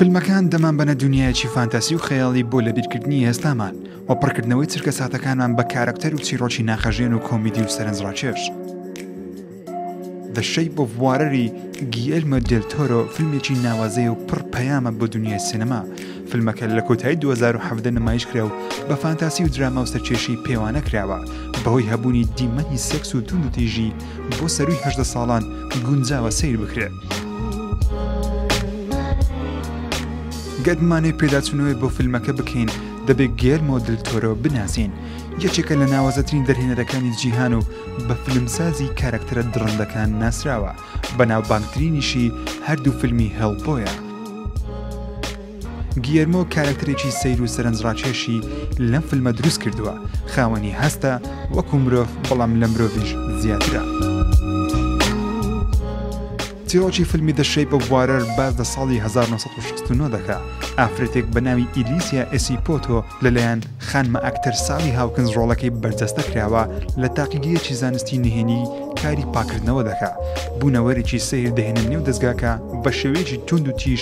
فیلمەکان دەمان بەنە دنیایەکی فانتاسی و خەیاڵی بۆ لە بیرکردنی ئێستامان و پڕکردنەوەی چرکە ساتەکانمان بە کارکتەر و چیرۆکی ناخەژێن و کۆمیدی و سەرنجڕاکێش دەشەی بۆ بوارەری گیلمە دلتۆرۆ فیلمێکی ناوازەی و پڕ پەیامە بۆ دنیای سینەما فیلمەکە لە کۆتایی 2017 نمایش کرا و بە فانتاسی و دراما و سەرکێشی پێوانە کراوە بەهۆی هەبوونی دیمەنی سێکس و توندتیژی بۆ سەرووی هەژدە ساڵان گونجاوە سەیر بکرێت. گەر بمانێ پێداچوونەوەی بۆ فیلمەکە بکەین دەبێت گێر مۆدل تۆرەوە بناسین یەکێکە لە ناوازەترین دەرهێنەرەکانی جیهان و بە فیلمسازی کارەکتەرە دڕندەکان ناسراوە بەناوبانگترینیشی هەردوو فیلمی هەڵبۆیە گییەرمۆ کارەکتەرێکی سەیر و سەرنجڕاکێشی لەم فیلمە دروست کردووە، خاوەنی هەستە وەکو مرۆڤ بەڵام لە مرۆڤیش زیاترە. چیرۆکی فیلمی The Shape of Water باس لە ساڵی 1969 دەکا ئافرەتێک بە ناوی ئیلیسیا ئێسی پۆتۆ لەلایەن خانمە ئەکتەر ساڵی هاوکنز ڕۆڵەکەی بەرجەستە کراوە لە تاقیگەیەکی زانستی نهێنی کاری پاکردنەوە دەکا بوونەوەرێکی سەیر دەهێنە نێو دەستگاکە بە شێوەیەکی توند و تیژ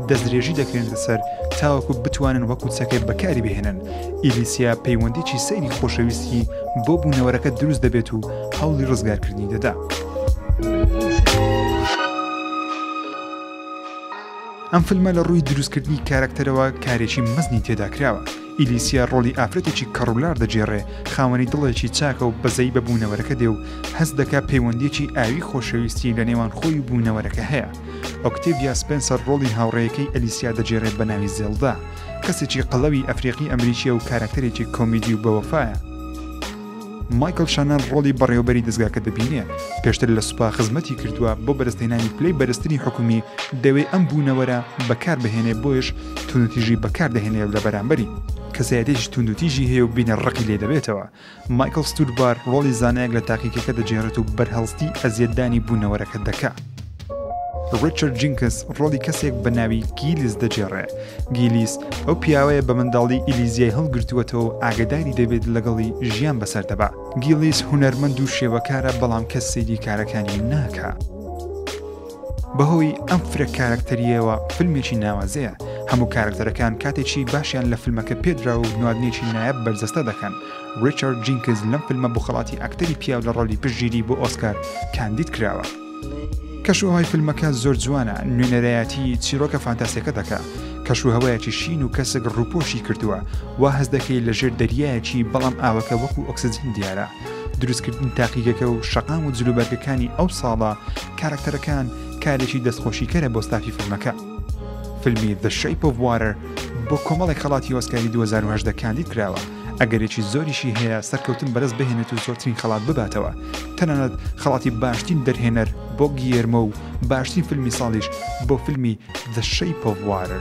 دەستدرێژی دەکرێنتە سەر تاوەکو بتوانن وەکو چەکێ بەکاری بهێنن ئیلیسیا پەیوەندیی سەیری خۆشەویستی بۆ بوونەوەرەکە دروست دەبێت و هەوڵی ڕزگارکردنی دەدا. ئەم فیلمە لە ڕووی دروستکردنی کارەکتەرەوە کارێکی مەزنی تێداکراوە ئیلیسیا ڕۆڵی ئافرەتێکی کەڕوولار دەگێڕێ، خاوەنی دڵێکی چاکە و بەزەیی بە بوونەوەرەکە دێ و هەست دەکا پەیوەندییەکی ئاویی خۆشەویستی لە نێوان خۆی و بوونەوەرەکە هەیە. ئۆکتێڤیا سپێنسەر ڕۆڵی هاوڕێیەکەی ئەلیسیا دەگێڕێ بە ناوی زێڵدا. کەسێکی قەڵەوی ئەفریقی-ئەمریکییە و کارەکتەرێکی کۆمیدی و بەوەفایە. مایکڵ شانەن ڕۆڵی بەڕێوەبەری دەزگاکە دەبینێ، پێشتر لە سوپا خزمەتی کردووە، بۆ بەدەستهێنانی پلەی بەرزتری حکومی دەوێ ئەم بوونەوەرە بەکاربهێنێ بۆیەش توندوتیژی بەکاردەهێنێ و لەبەرامبەری، کەسایەتیەکی توندوتیژی هەیە و بینەر ڕقی لێ دەبێتەوە، مایکڵ ستوربار ڕۆڵی زانایەک لە تاقیکەکە دەگێڕێت و بەرهەڵستی ئەزیەتدانی بوونەوەرەکە دەکا. ڕیچارد جینکس ڕۆڵی کەسێک بە ناوی گیلیس دەجێڕێ گیلیس ئەو پیاوەیە بە منداڵی ئیلیزیای هەڵگرتووەتەوە و ئاگداری دەبێت لەگەڵی ژیان بەسەر دەبا گیلیس هوەرمەند و شێوەکارە بەڵام کەس سەیری کارەکانی ناکە. بەهۆی ئەم فرە کارکتەریەوە فیلمێکی ناوازەیە هەموو کارکتەرەکان کاتێکی باشیان لە فیلمەکە پێدرا و نوادنێکی نایەب بەرجەستە دەکەن ڕیچارد جینکز لەم فیلمە بخڵاتی ئەکتەری پیاو لە ڕۆلی پشگیری بۆ ئۆسکار کاندید کراوە کەشوهەوای فیلمەکە زۆر جوانە، نوێنەرایەتی چیرۆکە فانتاسیەکە دەکا، کەشوهەوایەکی شین و کەسک ڕووپۆشی کردووە، وا هەست دەکەی لە ژێر دەریایەکی بەڵام ئاوەکە وەکو ئۆکسجین دیارە، دروستکردنی تاقیگەکە و شەقام و جلوبەرگەکانی ئەو ساڵە کارەکتەرەکان کارێکی دەستخۆشیکەرە بۆ ستافی فیلمەکە. فیلمی The Shape of Water بۆ کۆمەڵێک خەڵاتی ئۆسکاری دوو هەزار و هەژدە کاندید کراوە، ئەگەرێکی زۆریشی هەیە سەرکەوتن بەرز بهێنێت و زۆرترین خەڵات بباتەوە تەنانەت خەڵاتی باشترین دەرهێنەر بۆ گیێرمە و باشترین فیلمی ساڵیش بۆ فیلمی دەشەی پۆڤوارە.